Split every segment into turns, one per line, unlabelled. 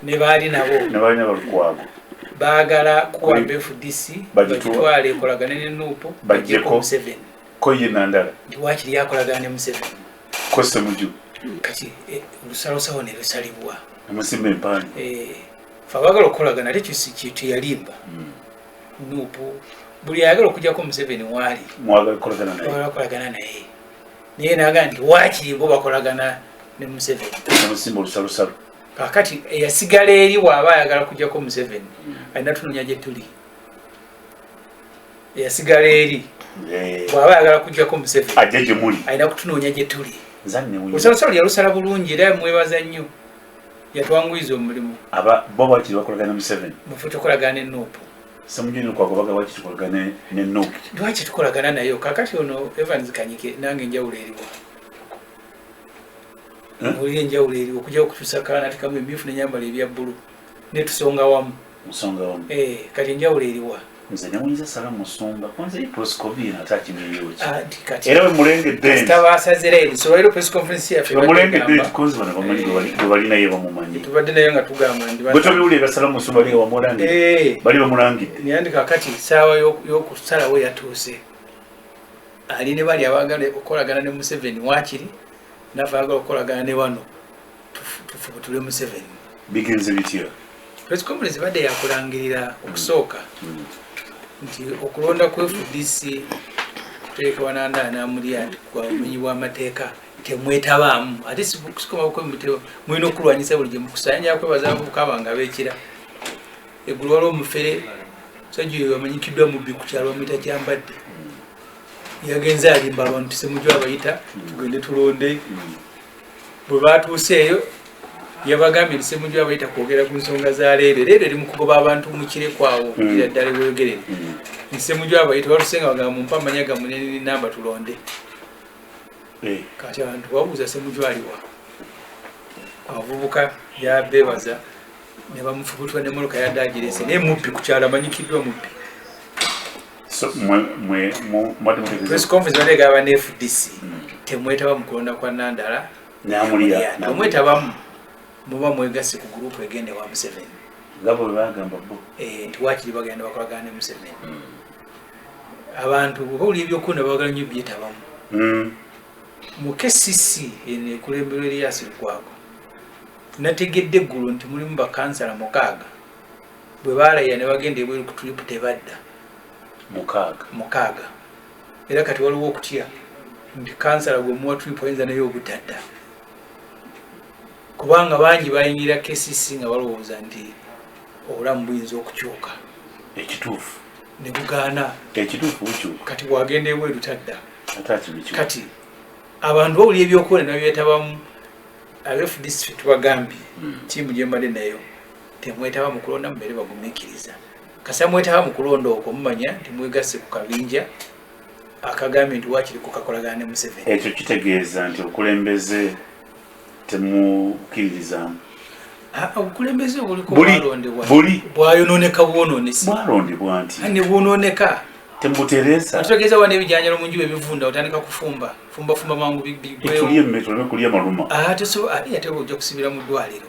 ne baali nabo ne baali nabo lukwago baagala kuwa bfdc bagitwale ekolagane ne nuupu bajjeko museveni ko ye nandala
nti waakiri yakolagana
ne museveni ko semuju
kati
eh, olusalosawo ne lusalibwa amusimba empaani
eh, fe
abaagala okukolagana ate kyeyalimba hmm. nuupu buli ayagala okujjako museveni waali mwagala
kukolagana naye
naye naga nti wakiri bo bakolagana ne museveni amusimba olusalusalu
kakati
eyasigala eri waaba ayagala kujjako museveni hmm. alina tunonya gye tuli eyasigala eri bwaba ayagala kujjako museveni ajja gye muli alina
kutunoonya gye tuli
olusalusalo yalusala bulungi era mwebaza nnyo yatwanguyiza omulimu aba bo bakiri
bakolagana museveni mufe tukolagana enuupu
Samujuni kwa
kubaga wachi tukolagane ne nuk. Wachi tukolagana na
yo. Kakati ono Evans Kanyike nange njawulo eriwo. Eh? Uli njawulo eriwo kuja okutusa kana tikamu ebifu ne nyambala ebya bulu. Ne tusonga wamu. Musonga wamu. Eh, kati njawulo eriwa. Mzee ne mwiza salamu
musumba. Kwanza hii proscovia na tachi ni yochi. Ah, era
wemulengedde balinaye
bamumanyiwetobewulira
sala musumali
wamulangi eh. bali bamulangidde kakati saawa
yokusalawo yatuuse ali ne bali abagala okukolagana ne museveni wakiri nafe agala okukolagana ne bano tufubutule museveni bigenze
bitya press conference
badde yakulangirira okusooka mm. nti okulonda ku fdc kuteeka wananda anamulya kwa omenyi bwamateeka temwetabaamu ate sikomakwemuteo mulina okulwanyisa buli gyemukusayanja kwebaza mukaba nga bekira eggulu waliwo omufere musajja oyo amanyikiddwa mubbi ku kyalo bamuyita kyambadde yagenze alimba abantu semujwa abayita tugende tulonde mm. bwe baatuuseeyo yabagambye nti semuju abayita kwogera ku nsonga za leere leero eri mu kugoba abantu mu kirekwawo mm. ira ddala bweyogerere mm. nti semuju abayita batusenga bagamba mumpa amanya gamwe nenini namba tulonde eh. kati abantu babuuza semuju aliwa abavubuka yabebaza ne bamufubutwa ne muluka yadde agirese naye mubbi kukyalo amanyikiddwa mubbi press conference bategeera ba fdc hmm. temwetaba mu kulonda kwa nandala omwetabamu muba mwegasi ku gurupu egenda ewa museveni
eh, nti wakiri bagenda
bakolagana ne museveni hmm. abantu oba oli ebyokuna bagala nyo byetabamu hmm. mu kcc eno ekulemberwa eriyasirikwago nategedde eggulu nti mulimu bakansala mukaaga bwe baalayira ne bagenda ebweru ku tulipu tebadda mukaaga mukaaga era kati waliwo okutya nti kansala gwe muwa tulipu ayinza naye obutadda kubanga bangi bayingira kcc nga balowooza nti obulamu buyinza okukyuka ekituufu
ne bugaana
ekituufu bukyuka
kati bwagenda ebweru
tadda kati abantu bawulira ebyokuwona nabyetabamu abefdc tubagambye hmm. tiimu gyembadde nayo temwetaba mu kulonda mubeere bagumikiriza kasa mwetaba mu kulonda okwo mumanya nti mwegasse ku kabinja akagambye nti wakiri kukakolagana ne museveni ekyo kitegeeza
nti obukulembeze temukiririzamu ah, obukulembeze
obulikolondebwa bwayononeka bwononesi bwalondebwa nti
ne bwononeka
temutereza
ategeeza wana ebijanjalo
mu njuba ebivunda otandika kufumba fumba fumba mangu bigwewo tulye mmere tuleme
kulya maluma ah, ate so ate
ojja kusibira mu ddwaliro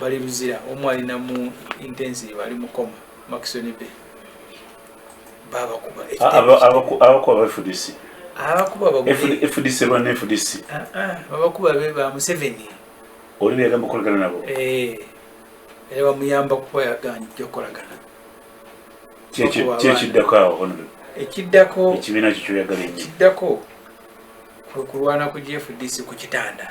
bali luzira omu ali namu intensive ali mukoma makisoni be babakuba abakuba
bafudisi abakuba
fdc lwana fdc
babakuba
be ba museveni oli beyagamba
okolagana nabo eh,
era bamuyamba kuba yaganja okolagana
kyekiddako awo ekiddako
ekibiina kyo kyoyagala
ekiddako
kwekulwana ku gfdc ku kitanda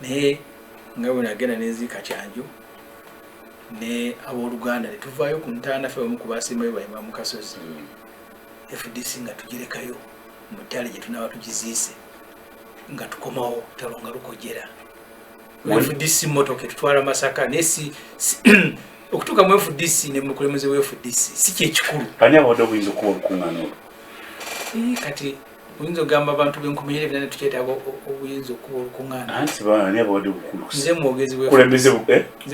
naye nga bwe nagenda nenziika kyanjo ne abooluganda ne tuvaayo ku ntaana ffe bamu ku baasembayo bayima mu kasozi hmm. fdc nga tugirekayo mu ttale gye tunaaba tugiziise nga tukomawo talo nga lukojera fdc motoka etutwala masaka naye si okutuuka mu fdc ne mukulembeze wa fdc si kyekikulu ani abadde obuyinza okuba
olukuŋŋaana olwo kati
oyinza ogamba abantu benkumayira ebina netukyetaaga obuyinza okuba olukuŋananze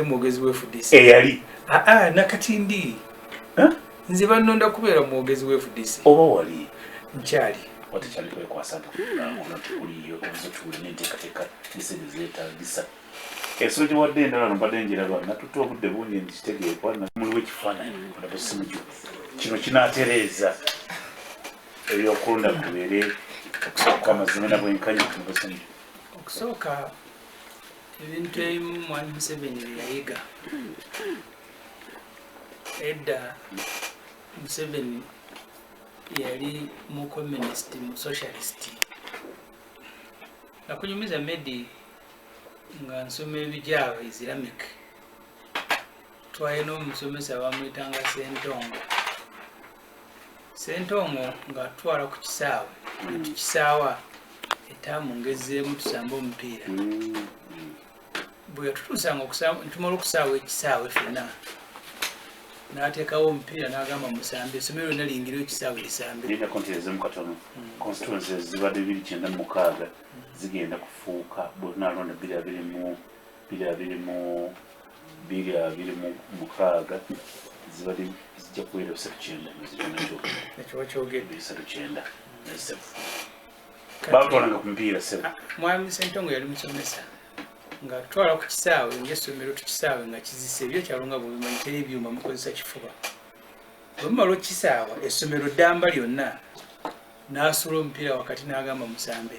mwogezi
wefudc eyali aa
nakati
ndi nze banonda kubeera mwogezi wefudc oba wali
nkyali
watekyali kwekwasa
nti kunakuno tikuliyo obuze tuwuli nenteekateeka nesente zetagisa ensolo gye wadde endala no mbadde njiraba natutte obudde bungi nzitegeekwa muliwo ekifaananyi olaba essimu gyo kino kinatereeza ebyokulonda kubeere okusooka amazima na bwenkanya ku mubusanyi okusooka
ebintu ebimu mwami museveni byeyayiga edda museveni yali mu communist mu socialist nakunyumiza medi nga nsoma ebijaaba islamic twalina omusomesa bamwitanga sentongo Ssentongo ng'atutwala ku kisaawe nga tukisaawa etaamu ngezzeemu tusamba omupiira bwe yatutuusanga tumala okusaawa ekisaawe fenna n'ateekawo omupiira n'agamba musambe essomo lyonna liyingire ekisaawe lisambe
constituencies zibadde biri kyenda mu mukaaga zigenda kufuuka bwe tunalonda biri abiri mu biri abiri mu bbiri abiri mu mukaaga zibadde zijja kubeera bisatu kyenda muzikyo ekiwakyogedde
bisatu kyenda
nesebo batwalanga ku mupiira sebo ah, mwami sentongo yali
musomesa nga twala ku kisaawe ngesomero tukisaawe nga kizisa ebyo kyalonga bwebimanyi teri ebyuma mukozesa kifuba bwemumala okukisaawa essomero ddamba lyonna n'asula omupiira wakati n'agamba musambe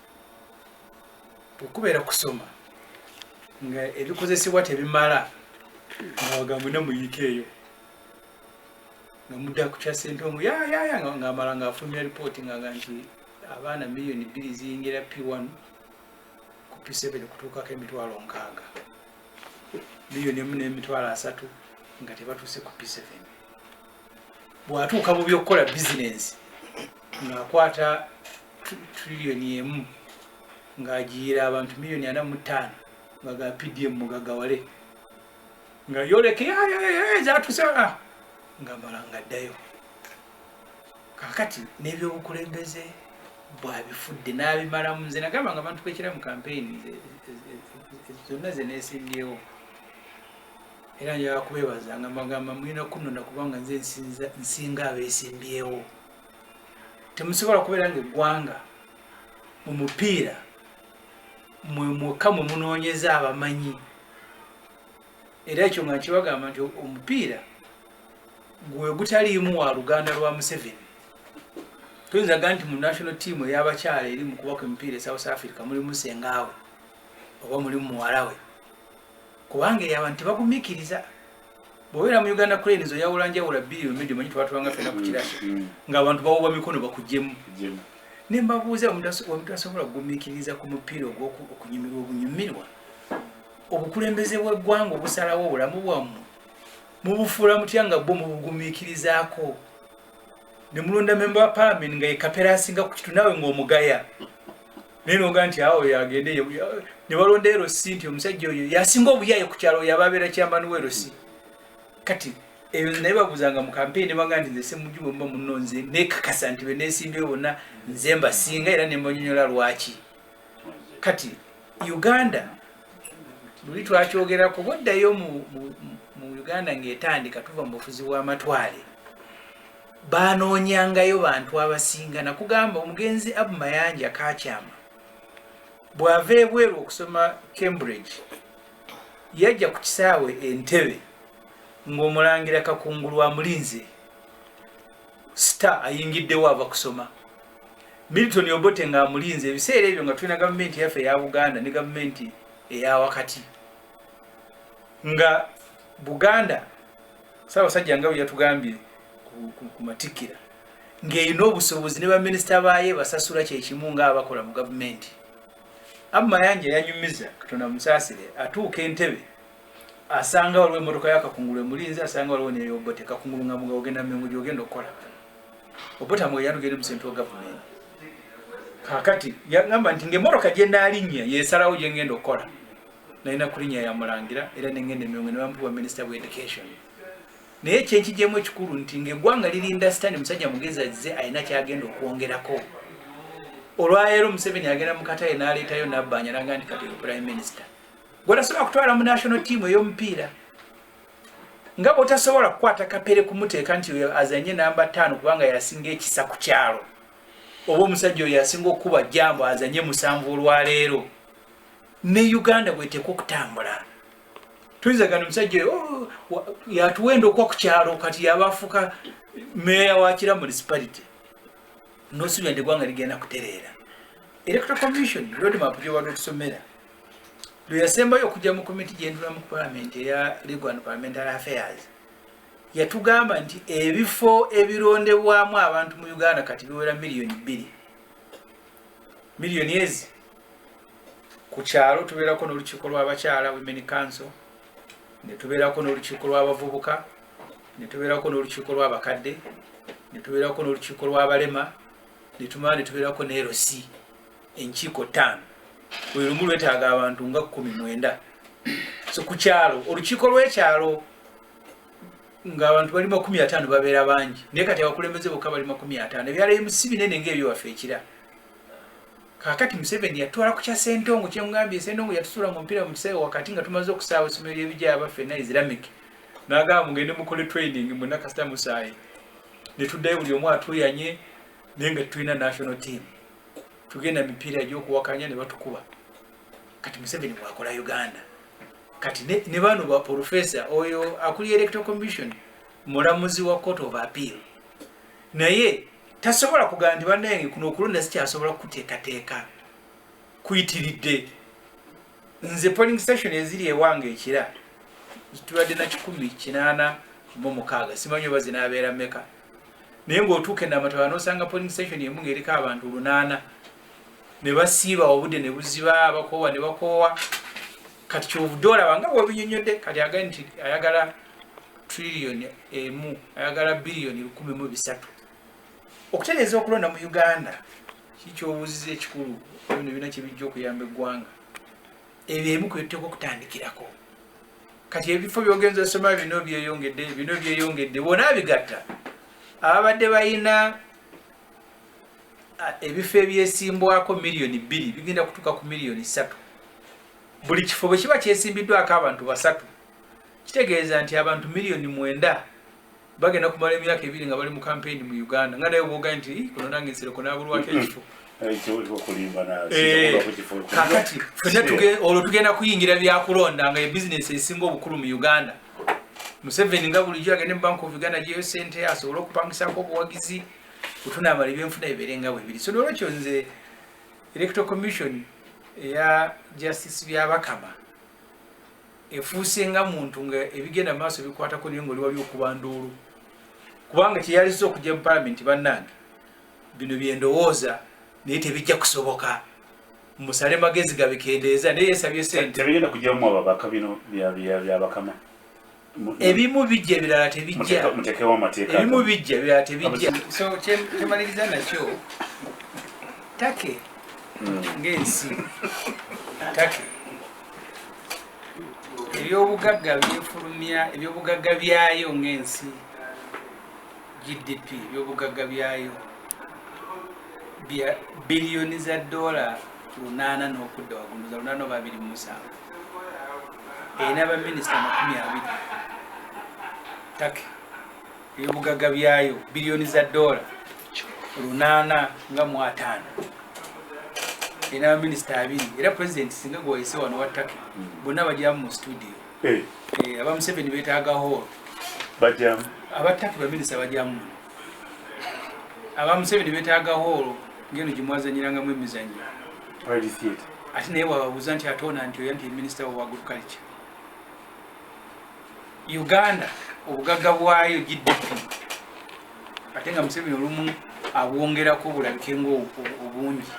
okubeera kusoma nga ebikozesebwa tebimala ngawagambo ne muyiika eyo nga mudda kukya sente omu yayaya ngaamala ngaafulumya ripooti ngaga nti abaana miliyoni bbiri ziyingira p1 ku p7 okutuukako emitwalo nkaaga miliyoni emu n'emitwalo asatu nga tebatuuse ku p7 bw'atuuka mu by'okukola bizinensi tunaakwata triliyoni emu ng'agiyira abantu miliyoni ana mu ttaano nga ga pdm mugagawale nga yoleke zatusa ah! nga mala nga ddayo kakati n'ebyobukulembeze bwabifudde n'abimalamu nze nagamba nga abantu bekira mu kampeyini zonna ze neesimbyewo era njaga kubeebaza nga magamba mulina kunona kubanga nze nsinga abeesimbyewo temusobola kubeera nga eggwanga mu mupiira mwe mwokka mwe munoonyeza abamanyi era ekyo nga nkibagamba nti omupiira gwe gutaliimu wa luganda lwa museveni tuyinza ga nti mu national team eyabakyala eri mu kubaka emipiira e south africa mulimu sengaawe oba mulimu muwalawe kubanga eyabantu tebagumikiriza bwobeera mu uganda cranes oyawula njawula bbiri omidi manyi twatulanga fena ku kirasi mm, mm. ng'abantu bawuba mikono bakujemu ne mbabuuza wamutasobola kugumiikiriza ku mupiira ogwokunyumirwa obunyumirwa obukulembeze bw'eggwanga obusalawo obulamu bwammwe mubufuula mutya nga bwo mubugumiikirizaako ne mulonda memba wa palamenti nga yekapera asinga ku kitu naawe ng'omugaya naye noga nti awo yagende ne balonda erosi nti omusajja oyo yasinga obuyaye ku kyalo yababeera kyambani werosi kati eyo naye babuzanga mu kampeyini nebanga nti nze semuju bwemuba muno nze nekakasa nti benesimbyewo bonna nze mbasinga era nembanyonyola lwaki kati uganda luli twakyogera kuba oddayo mu uganda ngaetandika tuva mu bufuzi bw'amatwale baanoonyangayo bantu abasinga nakugamba omugenzi abu mayanja kakyama bw'ava ebweru okusoma cambridge yajja ku kisaawe entebe ng'omulangira kakungulu amulinze star ayingiddewo ava kusoma milton obote ng'amulinze ebiseera ebyo nga tulina gavumenti yaffe eya buganda ne gavumenti eya wakati nga buganda Ssaabasajja nga bwe yatugambye ku matikkira ng'erina obusobozi ne baminisita baayo ebasasula kye kimu ng'abakola mu gavumenti. Abu Mayanja yanyumiza Katonda musaasire atuuka entebe asanga waliwo emmotoka ya Kakungulu emulinze asanga waliwo neyo Obote Kakungulu nga muga ogenda Mmengo gy'ogenda okukola. Obote amugaye yanogenda mu sentral gavumenti. Kaakati yangamba nti ng'emmotoka gye naalinnya y'esalawo gye ngenda okukola. nalina kulinya ya mulangira era nengenda emyongo nebampa bwa minister of education naye kyenkijemu ekikulu nti ngaegwanga lirinda sitani musajja mugezi azze alina kyagenda okwongerako olwaleero museveni agenda mukataye naleetayo nabbanja naga nti kati prime minister gwetasobola kutwala mu national team eyomupiira nga bwotasobola kukwata kapere kumuteeka nti azanye namba taano kubanga yasinga ekisa ku kyalo oba omusajja oyo yasinga okukuba jambo azanye musanvu olwaleero ne uganda bweteka okutambula tuyinza gana omusajja oyo oh, yatuwenda okwa ku kyalo kati yabafuka meeya wa kira municipality nosuubira nti eggwanga ligenda kutereera electoral commission roadmap gyobadde otusomera lwe yasembayo okujja mu komiti gyendula mu palamenti eya legal and parliamentary affairs yatugamba nti ebifo ebirondebwamu abantu mu uganda kati biwera miliyoni bbiri miliyoni ezi ku kyalo tubeerako n'olukiiko lw'abakyala women council ne tubeerako n'olukiiko lw'abavubuka ne tubeerako n'olukiiko lw'abakadde ne tubeerako n'olukiiko lw'abalema ne tumala ne tubeerako neerosi enkiiko ttaano buli lumu lwetaaga abantu nga kkumi mwenda so ku kyalo olukiiko lw'ekyalo ng'abantu bali makumi ataano babeera bangi naye kati abakulembeze bokka bali makumi ataano ebyalo ebimu si binene ng'ebyo waffe ekira Kakati Museveni yatwala ku kya Sentongo kyengambye Sentongo yatusula mu mpira mu kisawe wakati nga tumaze okusaawa essomero ly'ebijaya abaffe na Islamic nagamba mugende mukole training mu nakasita musaayi ne tuddayo buli omu atuyanye naye nga tulina national team tugenda mipiira egy'okuwakanya ne batukuba kati Museveni bwakola Uganda kati ne, ne bano ba professor oyo akuli electoral commission mulamuzi wa court of appeal naye tasobola kugamba nti bannange kuno okulonda sikyasobola kukuteekateeka kuyitiridde nze polling station eziri ewange ekira zitubadde na kikumi kinaana mu mukaaga simanyi oba zinaabeera meka naye ng'otuuka enamataba n'osanga polling station emu ng'eriko abantu lunaana ne basiiba obudde ne buziba bakoowa ne bakoowa kati kyovudde olaba nga bwebinyonyodde kati agai nti ayagala trillioni emu ayagala biliyoni lukumi mu bisatu okutereeza okulonda mu uganda kikyobuziza ekikulu bino ebina kyebijja okuyamba eggwanga ebyo emu kwebiteka okutandikirako kati ebifo byogenza osoma bino byeyongedde bino byeyongedde bona bigatta ababadde balina ebifo ebyesimbwako miliyoni bbiri bigenda kutuuka ku miliyoni ssatu buli kifo bwe kiba kyesimbiddwako abantu basatu kitegeeza nti abantu miliyoni mwenda bagenda kumala emyaka ebiri nga bali mu kampeyini mu uganda nga naye obwoga nti kuno nange nsereko nabulwako ekifo eh, kakati fena olwo tugenda kuyingira byakulonda nga ebizinesi esinga obukulu mu uganda museveni nga bulijjo agende mu bank of uganda gyeyo sente asobole okupangisako obuwagizi kutunaabala ebyenfuna bibeere nga bwebiri so nolwekyo nze electoral commission eya justice byabakama efuuse nga muntu nga ebigenda mu maaso bikwatako naye ngaoli wali okuba nduulu kubanga kyeyaliza okujja mu palamenti bannange bino byendowooza naye tebijja kusoboka musale magezi gabikendeeza naye yesabye sente tebigenda kujjamu ababaka
bino byabakama
ebimu bijja ebirala tebijja ebimu
bijja ebirala
tebijja so kyemaliriza nakyo take hmm. ng'ensi take ebyobugagga byefulumya ebyobugagga byayo ng'ensi gdp ebyobugagga byayo bya biliyoni za dola lunaana n'okudda wagunuza lunaana oba biri mu musanvu erina baminisita amakumi abiri take ebyobugagga byayo biliyoni za doola lunaana nga mu ataano erina baminisita abiri era pulezidenti singa gwayise wano wa take bonna bajyamu mu situdiyo eh. eh, aba museveni betaaga hoolo
aba take
baminisita bajyamu aba museveni betaaga hoolo ngeno gyemwazanyirangamu emizanyo ate naye wababuuza nti atona nti oya nti minisita wa agriculture uganda obugagga bwayo gdp ate nga museveni olumu abwongerako obulabike nga obungi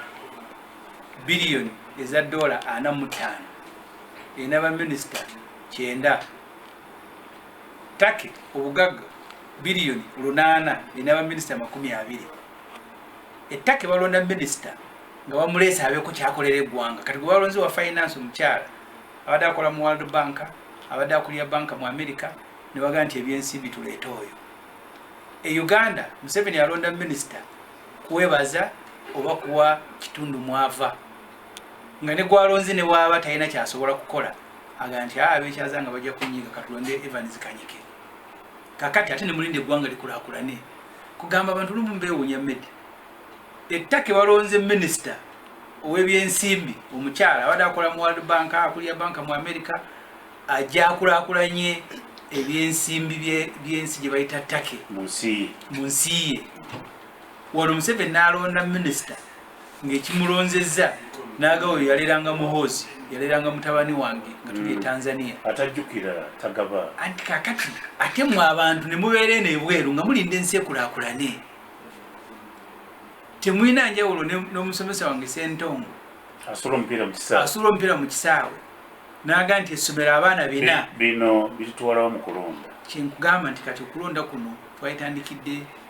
biliyoni eza dola ana mutaano erina baminisita kyenda take obugagga biliyoni lunaana erina baminisita amakumi abiri ettaka ebalonda minisita nga bamuleese abeeko kyakolera eggwanga kati gwe balonzi wa finance omukyala abadde akola mu world bank abadde akulira banka mu amerika ne baga nti ebyensimbi tuleete oyo e uganda museveni alonda minisita kwebaza oba kuwa kitundu mwava nga ne gwalonzi ne waaba talina kyasobola kukola aga nti ah, abekyaza nga bajja kunyiga katulonde evans kanyike kakati ate nemulinde eggwanga likulakulane kugamba abantu lumu mbewunya medi ettaka ewalonze minisita owebyensimbi omukyala abadde akola mu world bank akulira banka mu amerika ajakulakulanye ebyensimbi byensi gyebayita take mu nsi ye wano museveni nalonda minisita ng'ekimulonzezza n'agawa oyo yaleranga muhoozi yaleranga mutabani wange nga tuli e mm. tanzania atajjukira
tagaba anti kakati
ate mwe abantu ne mubeera eno ebweru nga mulinda ensi ekulakulane temulina njawulo n'omusomesa wange sentongo
asula omupiira
mu kisaawe naga nti essomero abaana bina bino
bitutwalawo mu kulonda kyenkugamba nti kati
okulonda kuno twayitandikidde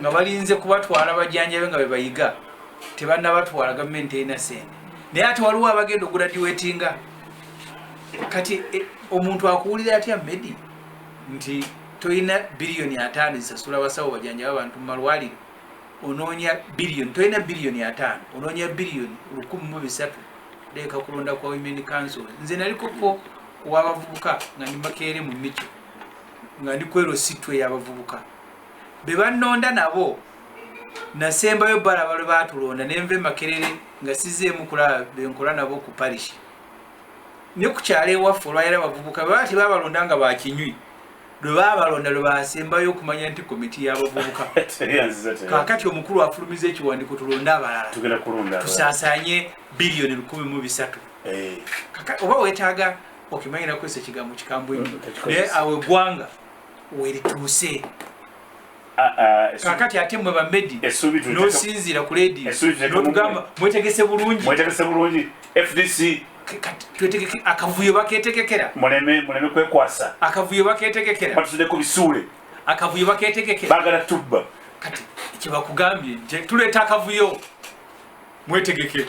nga balinze kubatwala bajanjabe nga bebayiga tebanabatwala gavumenti erina sente naye ati waliwo abagenda oguradiwetinga kati e, omuntu akuwulira atya medi nti tolina biliyoni ataano zisasula basawo bajanjaba abantu mumalwaliro ononya biliyoni tolina biliyoni ataano ononya biliyoni lukumi mu bisatu leeka kulonda kwa women council nze nalikoko kuwabavubuka nga ndi makeere mu mico nga ndi kwero sitwe yabavubuka be bannonda nabo nasembayo balaba lwe batulonda ne nva emakerere nga sizeemu kulaba benkola nabo ku parishi ne ku kyalo ewaffe olwayira abavubuka bwe bati babalonda nga bakinywi lwe babalonda lwe basembayo okumanya nti komiti y'abavubuka kakati omukulu afulumiza ekiwandiiko tulonde abalala tusasanye biliyoni lukumi mu bisatu eh. oba wetaaga okimanyirakwesa ekigambo kikambwe mm, naye awo eggwanga werituuse ah, ah, kakati ate mwe bamedi nosinziira ku ledi notugamba mwetegese bulungi mwetegese bulungi fdc
twetegeke
akavuyo baketegekera muleme muleme
kwekwasa akavuyo baketegekera
batusude ku bisuule
akavuyo
baketegekera bagala tubba
kati
kyebakugambye nti tuleeta akavuyo mwetegekere